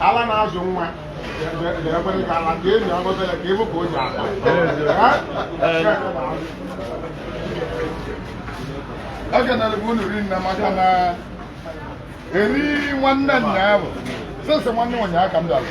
ala na-azụ nwa ga-ekwere ka ala ka enyi ọgọtara ka ịbụ ka o ji akpa ekenere m unu rinne maka na eri nwanne nna ya bụ sese nwanne ụnyaahụ ka m dara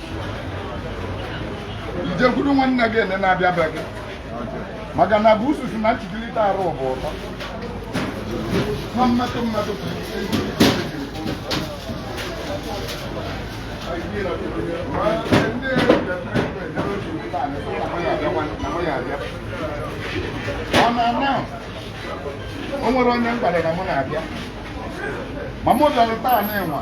jekwuru nwanne gị ene na-abịa be gị maka na bụ ususu na nchikilite arụ bụ ụtọ na mmetụ mmetụ ọ na-ana o nwere onye m gwara na mụ na-abịa ma mụ bịara taa na ịnwa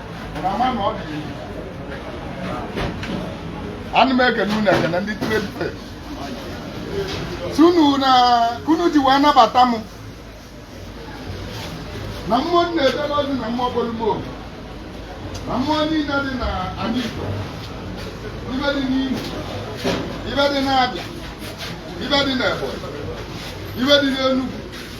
ana m ekene unu ekene ndị trade fair sunu na ka unu ji wee nabata m na mmụọ nna ebele ọdị na mmụọ bolumo na mmụọ niile dị na anị Igbo ibe dị n'Imo ibe dị n'Abịa ibe dị n'Ebonyi ibe dị n'Enugu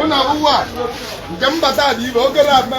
ụnụ abụwa nke mbata dị ibe oge na-akpa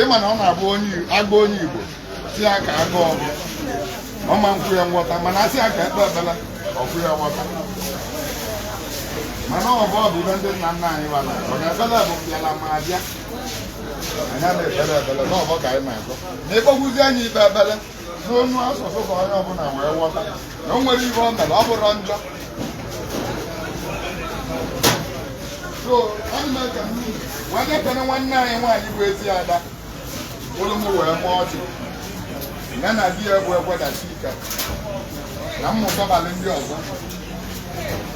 ị ma na ọ na-abụ a gwa onye Igbo sị ya ka a gọọ ọvọ ọ ma ekwe ya nghọta mana a sị ya ka e kpee ekpele o kwe ya nghọta mana ọvọ bụ ive ndị nna nna anyị wara ọ na ekpele bụ bịala ma abịa anyị na-ekpele ekpele na ọvọ ka anyị na-agọ na ịkpọgwụzi anyị ikpe ekpele n'ọnụ asụsụ ka onye ọbụla wee ghọta na o nwere ihe o mere ọ bụrụ njọ so ọ na-eme ka m wee na-ekene nwanne anyị nwaanyị bụ ezi ada olu m wee mụọ ọchị ya na di ya bụ egwedachi ike na mmụta balị ndị ọzọ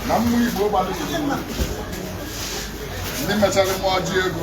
na mmụ igbo gbalị ndị mechara mụọ ọjị ego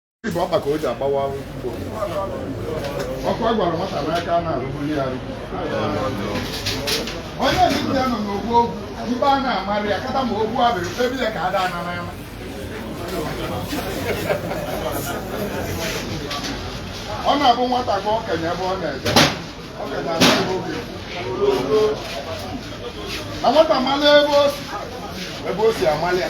Ibe ọkpa ka o ji agbawa ugbo. Ọkụ a gwara nwata n'aka a na-arụgbu ya arụgbu. Onye ndị ya nọ n'ọgbọ ọgụ, mgbe a na-amarị ya kata ma ọgụ abịrị ebie ka ada ana n'ama. Ọ na-abụ nwata gwa okenye ebe ọ na-eje. Okenye ana ebe o bi. Na nwata mala ebe o si, ebe o si amalị ya.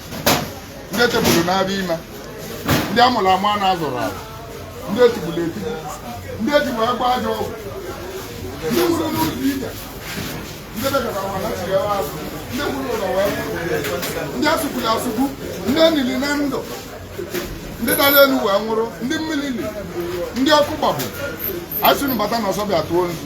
ndị etegburu n'afọ ime ndị amụrụ amụ mana azụrọ azụ ndị etigburu etigbu ndị ejigbo egbe ajọ ọgwụ ndị nwụrụ n'ụzọ ije ndị bịara ụwa nachighara azụ ndị nwụrụ ụlọ wee ndị asụgburu asụgbu ndị enili na ndụ ndị dara elu wee nwụrụ ndị mmiri li ndị ọkụ gbagbu asị unu bata na ọsọ bịa tụọ nzu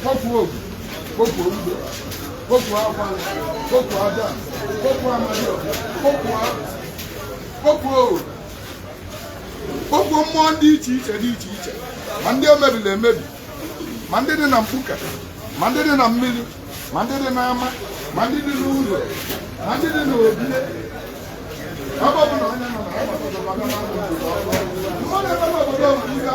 kpọkuo ogu kpọkuo ogbe kpọkuo akwa kpọkuo ada kpọkuo amadị kpọkuo kpọkuo oru kpọkuo mmụọ dị iche iche dị iche iche ma ndị emebiri emebi ma ndị dị na mkpuke ma ndị dị na mmiri ma ndị dị n'ama ma ndị dị n'ụlọ ma ndị dị n'obi ebe ọ bụla onye nọ na ya gbasara maka mmadụ mmadụ ebe n'obodo ọbụla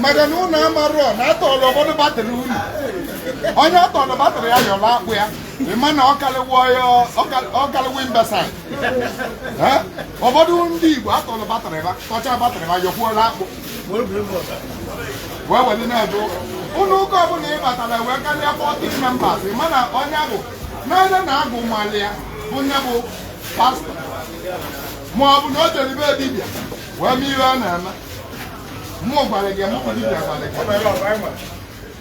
maka na unu amarọ na atọrọ ụfọdụ batrị unu onye atọrọ batrị ya yọrọ akpụ ya ị ma na ọ kalịwo imbecile ụfọdụ ndị Igbo atọrọ batrị fa tọcha batrị fa yọkwuola akpụ wee were na-eje ụka ụlọ ụka ọbụla ị batara wee karịa 40 members ị ma na onye bụ n'anya na agwụ malị ya bụ onye bụ pastọ ma ọ bụ na o jere be dibịa wee mee ihe ọ na-eme mụ gwara gị mụ bụ dibịa gwara gị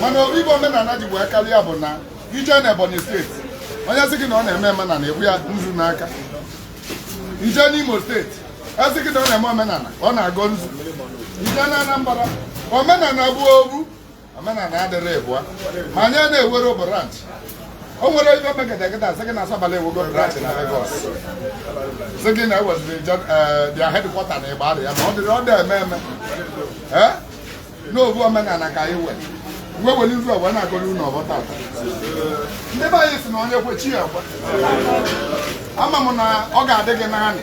mana ife bụ omenala ji wee karịa bụ na i je na Ebonyi steeti onye sị gị na ọ na-eme omenala ebu ya nzu n'aka i je n'Imo steeti asị gị na ọ na-eme omenala ọ na-agọ nzu i je na Anambra omenala bụ ofu omenala adịrọ ịbụa ma anyị enwerọ branch o nwere ibe megedegede asị gị na asabala enwego branch na Lagos sị gị na enweziri their headquarter na Igbariam ọ dịrọ adị eme eme ee n'ofu omenala ka anyị nwe wee were nzu ọwa na-agọrọ unu ọfọ tata ndị be anyị si na onye kwe chi ya ekwe ama m na ọ ga-adị gị naanị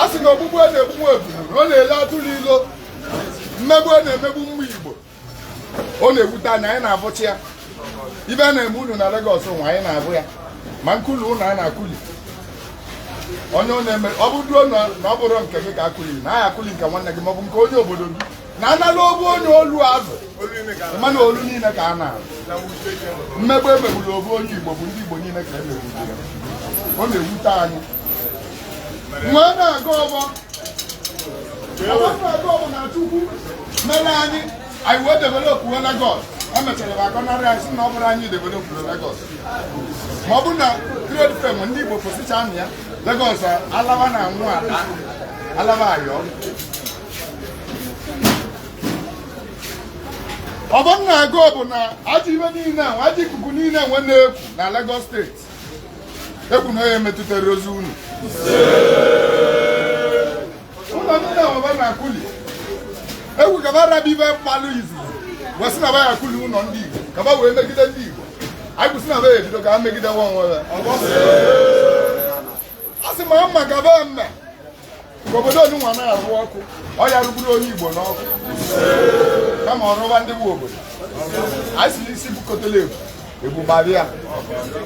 a sị na ogbugbu a na-egbu ebulu ọ na-ele atụrụ ilo mmegbu a na-emegbu ụmụ Igbo ọ na-ewute anyị anyị na-abụcha ya ibe a na-eme unu na Lagos nwa anyị na-abụ ya ma nkuli ụlọ a na-akuli onye onye mere ọ bụrụ na ọ bụrọ nke gị ka akụli na a ga-akụli nke nwanne gị maọbụ nke onye obodo gị na a nala obu onye olu azụ mana olu niile ka a nara azụ mmegbu emegburu obu onye igbo bụ ndị igbo niile ka emegburu ya ọ na-ewute anyị wee na-agọ ọbọ na chukwu mere anyị anyị wee developụo Lagos emechara ba agọnarị anyị sị na ọ bụrọ anyị developụrụ Lagos ma ọ bụ na trade fair ndị Igbo kwụsịcha na ya Lagos alaba na anwụ ala alaba ayọ ọbọ m na-agọ bụ na ajọ ibe niile ahụ ajọ ikuku niile nwa na-eku na Lagos steeti ekwu m na ọ na-emetụtarọzị unu ụlọ ndị na-ewebe na akụli egwu ka ba rapụ ibe ba gbalụ izu wee sị na ba ya akụli ụlọ ndị Igbo ka ba wee megide ndị Igbo anyị kwụsị na ba ya ebido ka ha megide nwa onwe ya a sị ma mma ka ba mee ka obodo onunwa na-arụ ọkụ ọ ya arụgburọ onye Igbo n'ọkụ kama ọ rụwa ndị nwe obodo anyị sị n'isi bukọtala ebu ebu gbara ya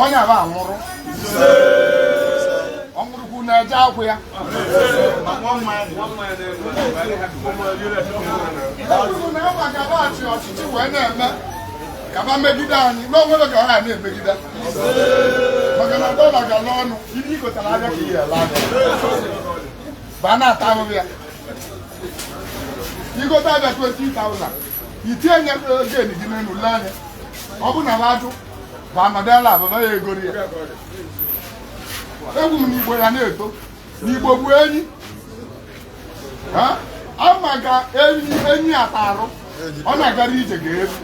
onye aba anwụrụ ọ nwụrụkwu na-eje akwụ ya ekwuru m na agba gaba achị ọchịchị wee na-eme ka ba megide anyị n'onwere ka ha na-emegide maka na dọla gala ọnụ ibe i gotara abịa ka ị ya ele ya ba na-ata ahụhụ ya i gote abịa 20,000 itinye nye gain gị n'elu lee ya ọ bụ na m ajụ ekwu m n'Igbo ya na-eto n'Igbo bụ enyi ama ga enyi enyi ata arụ ọ na-agara ije ga-efu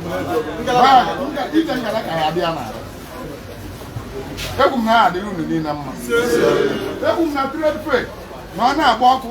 ije ngala ka ya dị ya n'arụ ekwu m na adịrị unu niile mma ekwu m na trade fair na ọ na-agba ọkụ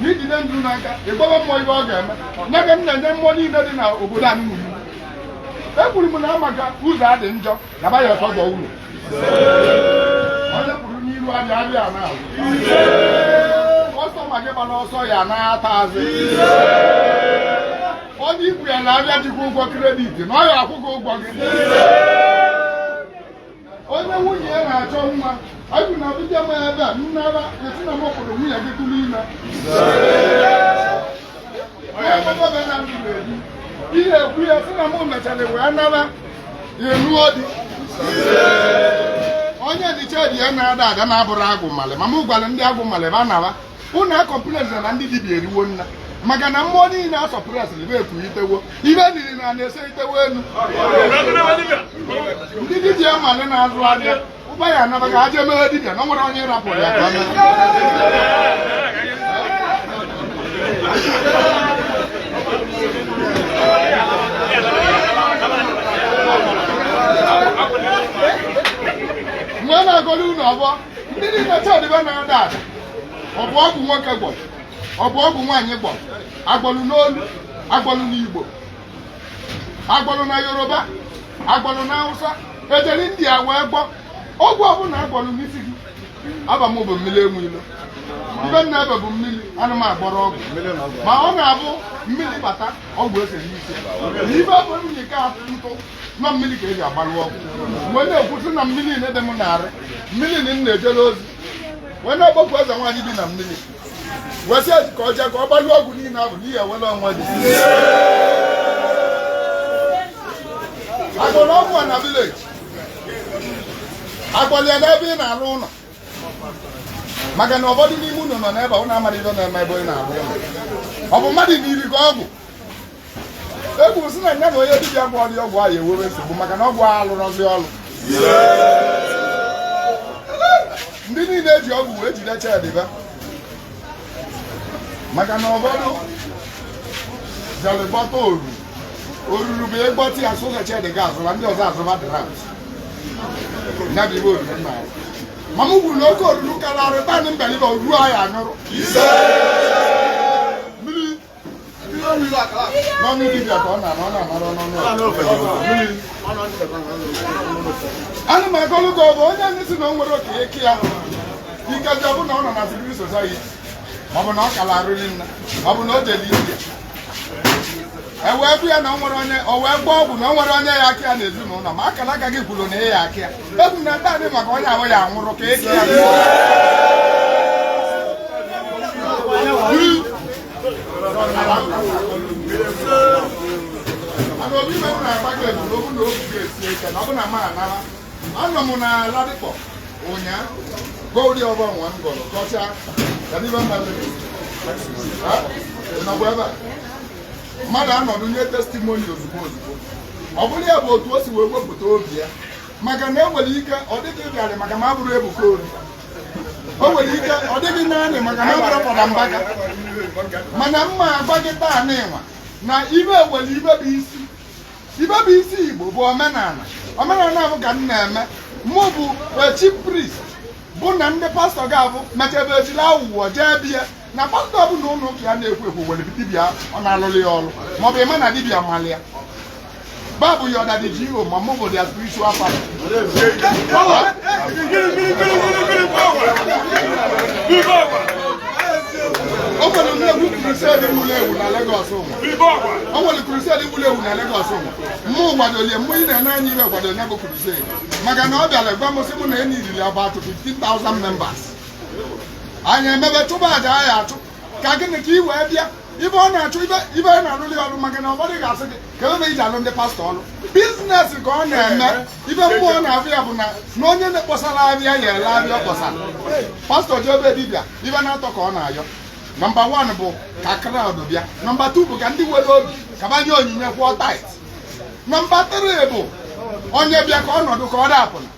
na i jide nzu n'aka ịgbawa mmụọ ibe ọ ga-eme nye ka m na-enye mmụọ niile dị na obodo anyị nzu ekwuru m na maka ụzọ adị njọ na ba ya ọtọ gọ ụlọ onye kwuru n'iru abịa abịa na kọstọma gị gbara ọsọ ya anata azụ onye ikwu ya n'abịa jikwa ụgwọ kredit na ọ ya akwụ gị ụgwọ gị onye nwunye ya na-achọ nwa anyị na abịbịa ma ebe a nnara esi na mụ kwuru nwunye gị tụrụ ime ihe ekwu ya si na mụ mechara wee nara ya enuo di onye dịcha di ya na-ada ada na-abụrụ agwụ mmalị ma mụ gwara ndị agwụ mmalị ba nara unu acomplainzi na ndị dibia eriwo nna maka na mmụọ niile a sọpụrụsịrị bụ ekwughitewo ife niile na na-ese itewo elu ndị dibia mmadụ na-azụ ahịa ụba ya anaba ka aje mere dibia na ọ nwere onye rapụrụ ya ka mgbe na-agọrọ unu ọfọ ndị niile shed fa na-ada ada ọ bụ ọgwụ nwoke gwọrọ ọ bụ ọgwụ nwaanyị gwọrọ agwọlụ n'olu agwọlụ n'igbo agwọlụ na yoruba agwọlụ na hausa ejiri ndị a wee gwọ ọgwụ ọbụla agwọlụ n'isi gị afa m bụ mmiri enwe ilo ife m na-efe bụ mmiri ana m agwọrọ ọgwụ ma ọ na-abụ mmiri bata ọgwụ ese n'isi na ife bụ nnyika ntụ na mmiri ka e ji agbalụ ọgwụ wee na-ekwusi na mmiri niile dị m n'arụ mmiri na m na-ejere ozi wee na-akpọku eze nwaanyị bi na mmiri wee sị ezi ka ọ jee ka ọ gbalụ ọgwụ niile ahụ n'ihi ewere onwe dị agwọrọ ọgwụ a na village agwọrọ ya n'ebe ị na-arụ ụlọ maka na ụfọdụ n'ime unu nọ n'ebe a, unu amaghị ihe na-eme ebe ị na-arụ ụlọ ọ bụ mmadụ niri gị ọgwụ ekwuru si na nya na onye dibịa gwọrọ ya ọgwụ ahụ enwee nsogbu maka na ọgwụ ahụ alụrọzi ọrụ ndị niile eji ọgwụ wee jide shed fa maka na ụfọdụ jere gwọta oru oruru bụ ị gwọta ya sọsọ shed ga azụba ndị ọzọ azụba dịra ya bụ ife oruru nna ya ma m kwuru na oke oruru karịa arịta ndị mbeliba oru ahụ anyụrụ ana m agọlụ gị ọfọ onye anyị si na o nwere oke eke ya ikeji ọ bụ na ọ nọ na secret society ọ bụ na ọ kala arụli nna ọ bụ na o jeli india e wee bụ ya na o nwere onye o wee gwọ ọgwụ na o nwere onye ya-aka ya n'ezinụlọ ma akala aka gị kwuru na ya-aka ya ego na ndị adị maka onye ahụ ya anwụrụ ka eke ya anọ m na ladipo ụnyaahụ godi ọfọ nwa m gọrọ gọcha kadiba mmadụ nakwa ebe a mmadụ anọ enye testimony ozugbo ozugbo ọ bụrụ ya bụ otu o si wee wepụta obi ya maka na enwere ike ọ dịghị ịbịarị maka ma a bụrụ ebuka ori o nwere ike ọ dịghị naanị maka na abụrụ Fada Mbaka mana m ma-agwa gị taa n'ịnwa na ive nwere ive bụ isi ive bụ isi Igbo bụ omenala omenala bụ ka m na-eme mụ bụ chief priest bụ na ndị pastọ ga-abụ mechebe ejila awụwọ jee be ya na pastọ ọbụla ụlọ ụka ya na-ekwo ekwo nwere dibịa ọ na-alụrụ ya ọrụ maọbụ ịma na dibịa mali ya babu your daddy GO ma mụ bụ their spiritual father o nwere nnekwu crusade wuru ewu na Lagos ụwa o nwere crusade wuru ewu na Lagos ụwa mụ kwadoli ya mụ ị na-ene anya e wee kwado ya bụ crusade maka na ọ bịara gwa m sị mụ na ya needịrị about 15,000 members anyị emebe chụba aja anyị achụ ka gịnị ka ị wee bịa ive ọ na-achọ ive ive anyị na-alụli ọrụ maka na ụfọdụ ga-asị gị ka ebe iji alụ ndị pastọ ọrụ business ka ọ na-eme ive mụ na-agwa ya bụ na na onye na-akpọsara avịa ya ele avịa ọ kpọsara pastọ jee be dibịa ive n'atọ ka ọ na-ayọ number one bụ ka crowd bịa number two bụ ka ndị nwere obi ka va nye onyinye kwụọ tithe number three bụ onye bịa ka ọ nọdụ ka ọ dapụna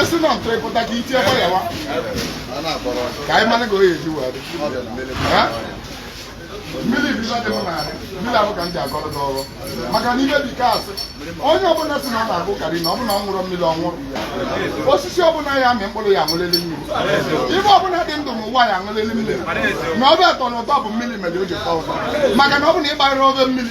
esi na ntụrụ ịpụta ka itinye kwa ya wa ka anyị mara ka o ji wee dị mmiri ibiza dị m narị mmiri a bụ ka m ji agọrọ gị ọvọ maka na ive dịka a sị onye ọbụla sị na ọ na-agụ karị na ọ bụ na ọ ṅụrọ mmiri ọ nwụrụ osisi ọbụla ya amị mkpụrụ ya aṅụlili mmiri ive ọbụla dị ndụ n'ụwa ya aṅụlili mmiri na ove ya atọ na ụtọ bụ mmiri mere o ji tọọ ụtọ maka na ọ bụ na ị gbanyerọ ove mmiri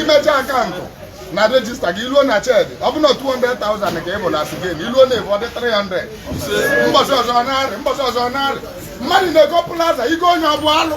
imecha account na register gị i luo na shed ọ bụ na 200,000 ka ị bụ na sigen i luo na ebu ọ dị 300 mbọsị ọzọ narị mbọsị ọzọ narị mmadụ na-ego plaza igo onye ọ bụ alụ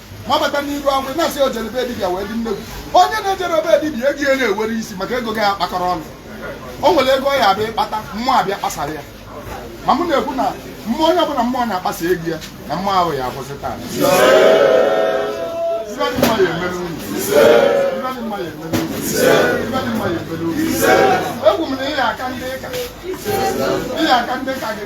ma bata n'iru ọgwụ na-asị o jere be dibịa wee dị nnekwu onye na-ejerọ be dibịa ego ya na-enwerọ isi maka ego gị akpakọrọ ọnụ o nwere ego ya abịa ịkpata mmụọ abịa kpasara ya ma mụ na-ekwu na mmụọ onye ọbụla mmụọ na-akpasa ego ya na mmụọ ahụ ya akwụsị taa ekwu m na ị ya-aka ndị ka gị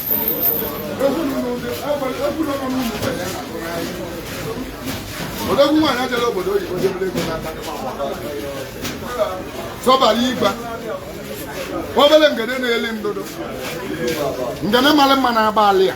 odogwu nwaanyị ajala obodo oyibo jebere ego n'aka sọbara igba obere ngene na-eli ndụdụ ngene mara mma na-agba alị ya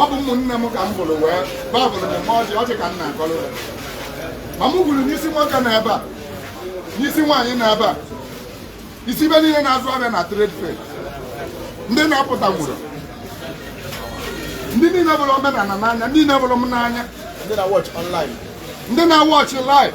ọ bụ ụmụnne m ka m bụrụ wee babụrụ m mgbe ọjị ọjị ka m na-agọrọ ya ma m ekwuru isi nwoke nọ ebe a isi nwaanyị nọ ebe a isi ibe niile na-azụ ahịa na trade fair ndị na-apụtanwurọ ndị niile vụrụ omenala n'anya ndị niile vụrụ m n'anya ndị na-awatch live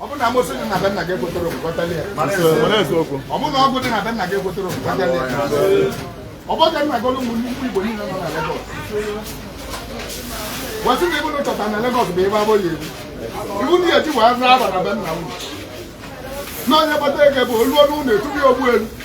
ọ bụrụ na amosu dị na be nna gị ekwetara okwukọtali ya ọ bụrụ na ọgwụ dị na be nna gị ekwetara okwukọtali ya ọ bụrụ ka m na-agọrọ ụmụ Igbo niile nọ na Lagos wee sị na ive unu chọta na Lagos bụ ebe abụghị ebi iwu ndị eji wee zaa ava na be nna unu na onye kpata ego bụ olu ọnụ unu etubi ogbu elu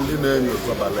ndị na-enyo sọbala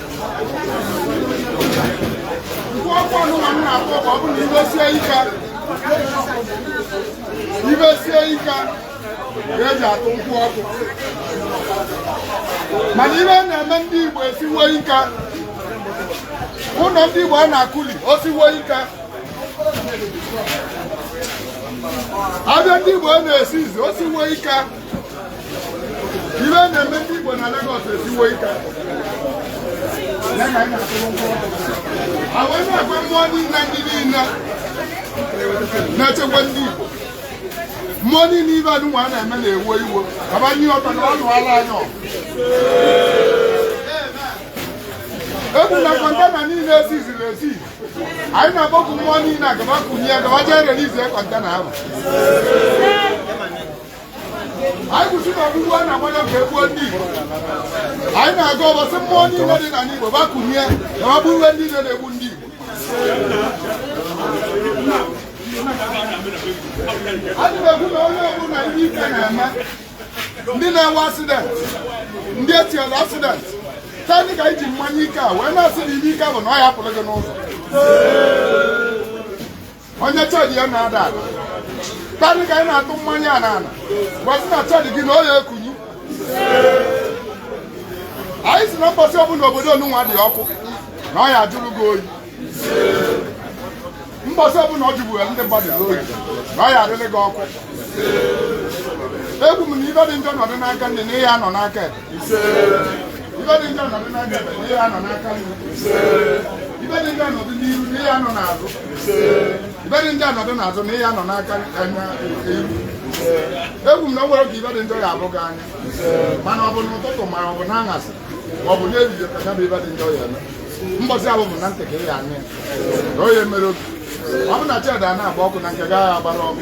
ive sie ike ka e ji atụ nkwụ ọkụ mana ive na-eme ndị Igbo esiwo ike ụlọ ndị Igbo a na-akụli osiwo ike avịa ndị Igbo a na-esizi osiwo ike ive na-eme ndị Igbo na Lagos esiwo ike a wee na-ekwe mmụọ niile ndị niile na-echekwa ndị Igbo mmụọ niile ive anụnwa a na-eme na-ewe iwe abanye ọtọ na ọnụ ala anyị ekwu na kọntena niile esiziri esi anyị na-akpọku mmụọ niile ka va kunie ka va jee release kọntena ahụ anyị kwu sị na ogbugbu a na-agbanye ka e gbuo ndị Igbo anyị na-agọ ọvọ sị mmụọ niile dị n'ala Igbo va kunie ka va gbuwe ndị niile na-egbu ndị Igbo anyị na-ekwu na onye ọbụla ihe ike na-eme ndị na-enwe asidenti ndị e tinyere asidenti taa ka anyị ji mmanya ike a wee na-asị na ihe ike ọbụna ọ ya-apụrụ gị n'ụzọ onye chọọchị ya na-ada ada tadị ka anyị na-atụ mmanya a n'ala wee sị na chọọchị gị na ọ ya-ekuni anyị sị na mbọsị ọbụla obodo onunwa dị ọkụ na ọ ya-ajụrụ gị oyi mbọsị ọbụla ọ jụgbuwe ndị mmadụ n'oyi na ọ ya-adịrị gị ọkụ ekwu m na ive dị njọ nọdụ n'aka nni na ị ya-anọ n'aka ekpe ife dị njọ nọdụ n'aka ekpe na ị ya anọ n'aka nni ife dị njọ nọdụ n'iru na ị ya anọ n'azụ ife dị njọ nọdụ n'azụ na ị ya anọ n'aka anya iru ekwu m na o nwere ka ife dị njọ ya ahụ gị anya mana ọ bụ n'ụtụtụ ma ọ bụ n'aṅasị ma ọ bụ n'ehihie ka ya bụ ife dị njọ ya eme mbọsị ahụ bụ na ntị ka ị ya anya na onye mere obi ọ bụ na cheda na-agba ọkụ na nke gaghị agbara ọkụ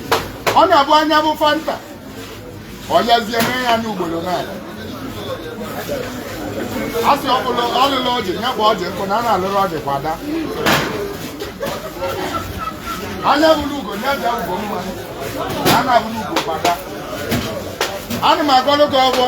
ọ na-abụ anya bụ fanta ọ yazie na ya anya ugboro n'ala a sị ọbụla ọ lịlụ ọjị ya kpa ọjị nkụ na a na-alịrọ ọjị kwada anya hụlụ ugo ya jaa ugo mma na a na-ahụrọ ugo kwada ana m agọlụ gị ọfọ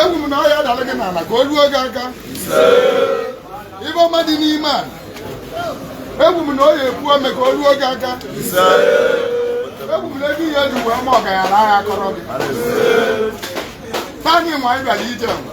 ekwu m na ọ ya adalụ gị n'ala ka o ruo gị aka ife ọma dị n'ime ala ekwu m na ọ ya epu ome ka o ruo gị aka ekwu m na ego ị ya eji wee ma ọgaranya agha akọrọ gị taa nwaanyị bịara ije nwa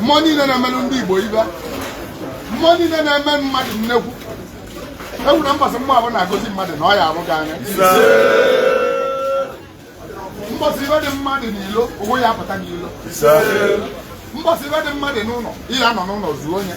mmụọ niile na-emelụ ndị Igbo ife mmụọ niile na-eme mmadụ nnekwu egwu na mbọsị mmụọ ahụ na-agọzi mmadụ na ọ ya ahụ gị anya mbọsị ife dị mma dị n'ilo onwe ya apụta n'ilo mbọsị ife dị mma dị n'ụlọ ị ya anọ n'ụlọ zuo onye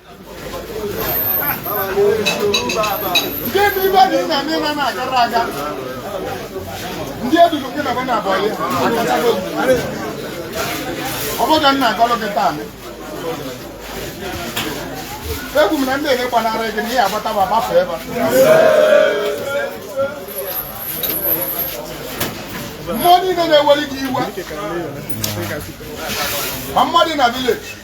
ndị edudu gị na bena abụọ akachago ọ bụghị nna agọlụ gị taa ekwu m na ndị niile gbanarị gị na ị ya agbata fa gbafee fa mmụọ niile na-eweli gị iwe ma mmadụ na vileji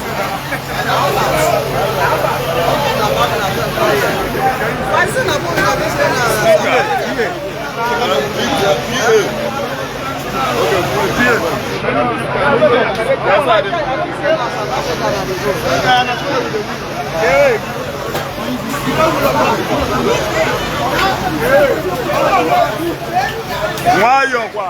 nwayọọ kwa